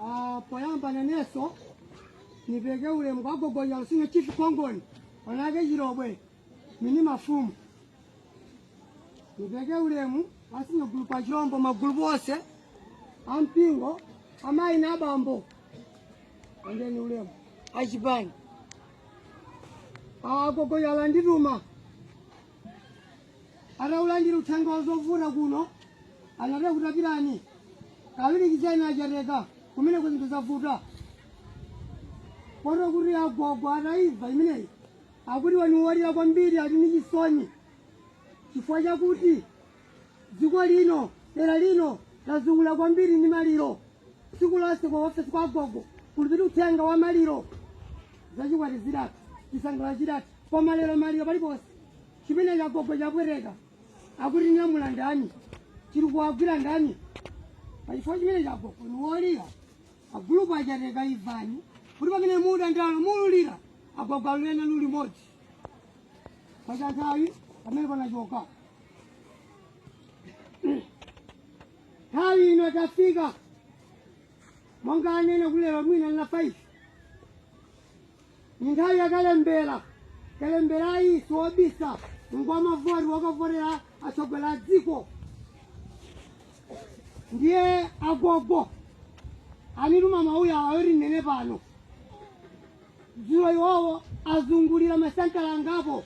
Ah, poyamba nanenso nipereke ulemu kwa a Gogo Chalo sinya chifu kongoni anake chilobwe mini mafumu nipereke ulemu a sinya gulupu a Chilombo magulu onse ampingo amayi na abambo endeni ulemu achipani a Gogo Chalo andituma ataulandira uthenga wa zovuta kuno anati kuti pitani kaperekezeni a Chateka kumeneko zinthu zavuta poti kuti agogo ataiva imeneyi akuti ni wolira kwambiri ali ndi chisoni chifukwa chakuti dziko lino dera lino lazunguzika kwambiri ndi maliro tsiku lonse kwa ofesi kwa agogo kulipita uthenga wa maliro zachikwati zidatu chisangalalo chidatu koma lero maliro paliponse chimene cha agogo chapweteka akuti nyamula ndani chiri kuwagwira ndani pachifukwa chimenecho agogo ni wolira agulupu a Chateka ivani kuti pamene muda ndalo mululira agogo ali nanu limodzi pa nthawi pamene panachoka nthawi ino tafika monga nanenera kulira mwina na 5 Mu nthawi ya kalembera, kalembera si wobisa, ngwa mavoti wokavotera atsogoleri a dziko. Ndiye agogo anituma mawu awawa oti ndinene pano. Dzulo iwowo azungulira masenta angapo,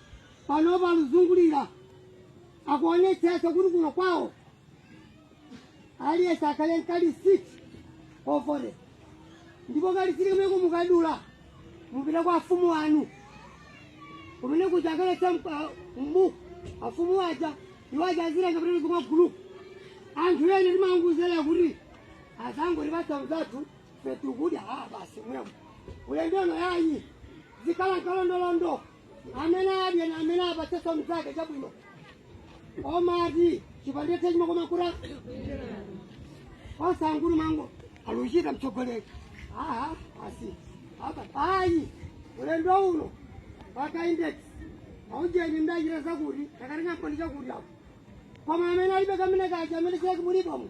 panopa akuzungulira akuonetsetsa kuti kuno kwawo aliyense akhale nkalisiti ofore ndipo kalisiti kamene kumukadula mupita kwa afumu wanu kumene kuja akalemba mbuku afumu waja iwo aja azitenga pamene kwa gulupu anthu eni timangouzidwa kuti azangotipatsa mzathu ife tikudya ah basi mwemo ulendo uno yayi zikhale nkalondolondo amene adye na amene apatsenso mnzake chabwino omati chipande cha nsima chimwe koma ukulu osamangolumangolu aluchita mtsogoleri aa asi apa ayi ulendo uno mpaka index aujeni mdachita zakuti tikatenga mboni chakuti ako koma amene alibe kamene kaja amene chake mulipomo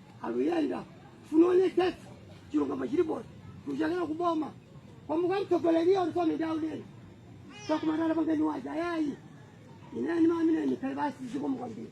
aluyenda funa oneketsa chilungamo chilipo kuchokera kuboma kwabwera mtsogoleri alikuwa midauleni sakumatala pangeni waja yayi ine ndimati ndinene kale basi zikomo kwambiri